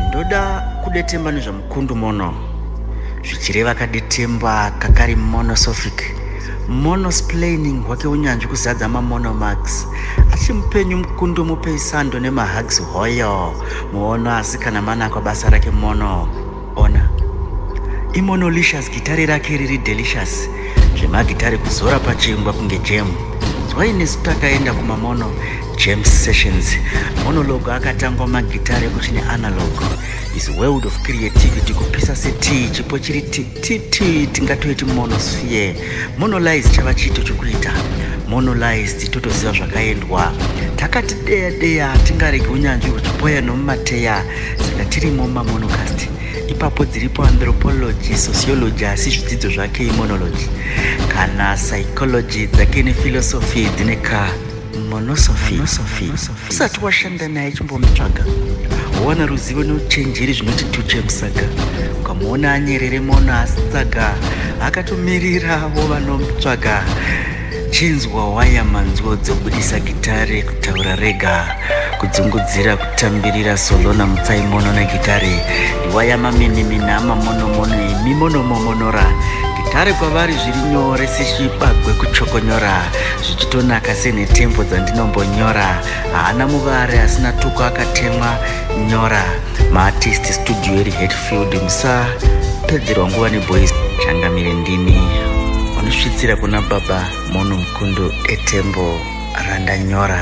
ndoda kudetemba nezvamukundu mono zvichireva kadetemba kakari monosophic monosplaining hwake unyanzvi kuzadza mamonomax achimupenyu mukundu mupei sando nemahugs hoyo muono asi kana manakwa basa rake mono Ona. Imonolicious gitare rake riri delicious. Zvemagitare kuzora pachingwa kunge jam. Why nesu takaenda kumamono jam sessions. Monologue akatangwa magitare kuchine analog. His world of creativity kupisa setii chipo chiri tititi tingatoiti monosphere. Monolize chava chiito chokuita. Monolized totoziva zvakaendwa. Takati deya deya tingaregi unyanzvi huchipoya nomumateya. saka tirimo mumamonocast ipapo dziripo anthropology sociology asi zvidzidzo zvake imonology kana psychology dzake nephilosophy dzine ka monosophy usati washanda naye chimbomutsvaga wowana ruzivo neuchenjeri zvinoti tuche musaga ukamuona anyerere mono asitsaga akatomirirawo vanomutsvaga Chinzwa waya manzwo dzobudisa gitare kutaura rega kudzungudzira kutambirira solona mutsaimono negitare ndiwaya maminimina amamonomono emimonomomonora gitare kwavari zviri nyore seshibagwe kuchokonyora zvichitonaka senhetembo dzandinombonyora haana muvare asina tuko akatemwa nyora maartist studio iri hetfield musapedzerwa nguva neboys changamire ndini unosvitsira kuna baba mono mukundu etembo randanyora